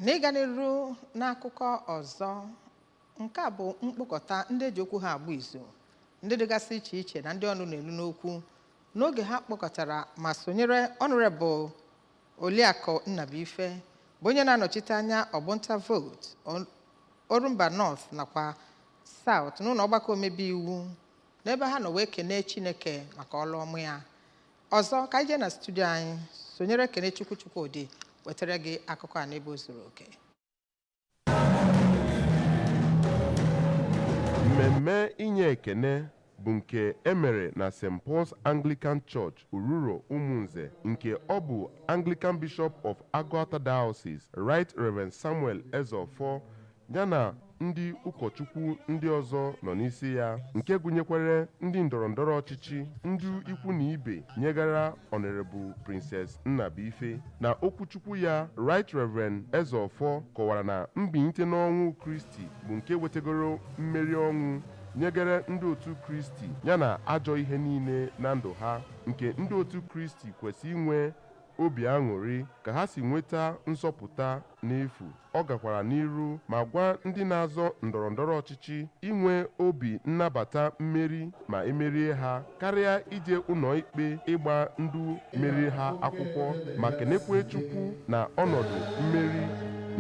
n'ịga n'iru n'akụkọ ọzọ nke a bụ mkpokọta ndị eji okwu ha agba izu ndị dịgasị iche iche na ndị ọnụ na-elu n'okwu n'oge ha kpọkọtara ma sonyere Honorable Oliakụ Nnabuife bụ onye na-anọchite anya ọgbọ nta vootu Ol- Orumba North nakwa South n'ụlọ ọgbakọ omebe iwu n'ebe ha nọ wee kenee Chineke maka ọlụ ọma ya ọzọ ka anyị jee na studio anyị sonyere Kenechukwu Chukwodi wetara gị akụkọ a n'ebe o zuru oke mmemme inye ekene bụ nke emere na St. Paul's Anglican Church Ururo Umunze nke ọ bụ Anglican Bishop of Agụata Diocese Right Reverend Samuel Ezeofor ya na ndị ụkọchukwu ndị ọzọ nọ n'isi ya nke gụnyekwara ndị ndọrọndọrọ ọchịchị ndị ikwu na ibe nyegara Honorable Princess Nnabuife na okwuchukwu ya Right Reverend Ezeofor kọwara na mbinite n'ọnwụ Kristi bụ nke wetegoro mmeri ọnwụ nyegara ndị otu Kristi yana ajọ ihe niile na ndụ ha nke ndị otu Kristi kwesị inwe obi aṅụrị ka ha si nweta nzọpụta n'efu ọ gakwara n'iru ma gwa ndị na-azọ ndọrọ ndọrọ ọchịchị inwe obi nnabata mmeri ma emerie ha karịa ije ụnọ ikpe ịgba ndị meri ha akwụkwọ ma kenekwe Chukwu na ọnọdụ mmeri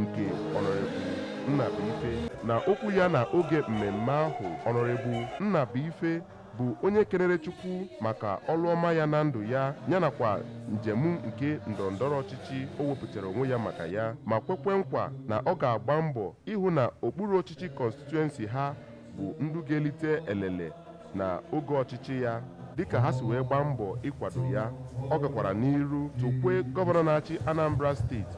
nke Honorable Nnabuife na okwu ya na oge mmemme ahụ Honorable Nnabuife bụ onye kenere Chukwu maka ọlụ ọma ya na ndụ ya yanakwa njem nke ndọrọndọrọ ọchịchị o wepụtara onwe ya maka ya ma kwekwe nkwa na ọ ga-agba mbọ ịhụ na okpuru ọchịchị constituency ha bụ ndị ga-elite elele na oge ọchịchị ya dịka ha si wee gbaa mbọ ịkwado ya ọ gakwara n'iru tokwe gọvanọ na-achị Anambra steeti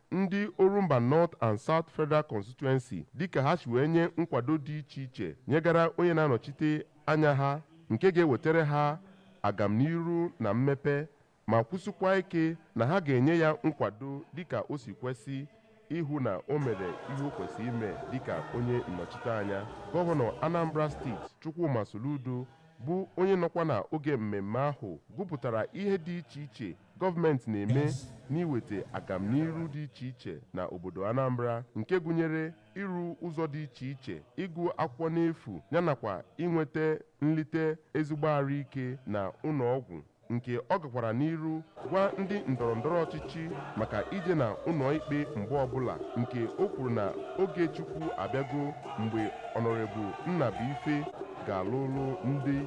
ndị Orumba North and South Federal Constituency dịka ha si wee nye nkwado dị iche iche nyegara onye na-anọchite anya ha nke ga-ewetara ha agamniru na mmepe ma kwụsịkwa ike na ha ga-enye ya nkwado dịka o si kwesị ịhụ na o mere ihe o kwesịrị ime dịka onye nnọchiteanya gọvanọ Anambra steeti Chukwuma Soludo bụ onye nọkwa na oge mmemme ahụ gụpụtara ihe dị iche iche gọọmenti na-eme n'iweta agamniru dị iche iche na obodo Anambra nke gụnyere ịrụ ụzọ dị iche iche ịgụ akwụkwọ n'efu yanakwa inweta nlite ezigbo arụ ike na ụnọ ọgwụ nke ọ gakwara n'iru gwa ndị ndọrọ ndọrọ ọchịchị maka ije na ụnọ ikpe mgbe ọbụla nke o kwuru na oge Chukwu abịago mgbe Honorable Nnabuife ga-alụlụ ndị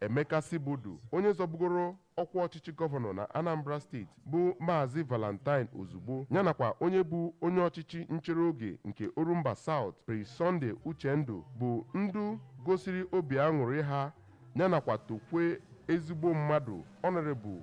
Emeka Sibeudu onye zọbugoro ọkwa ọchịchị gọvanọ na Anambra steeti bụ Maazị Valentine Ozigbo ya nakwa onye bụ onye ọchịchị nchere oge nke Orumba South Prince Sunday Uchendu bụ ndị gosiri obi aṅụrị ha ya nakwa tokwe ezigbo mmadụ Honorable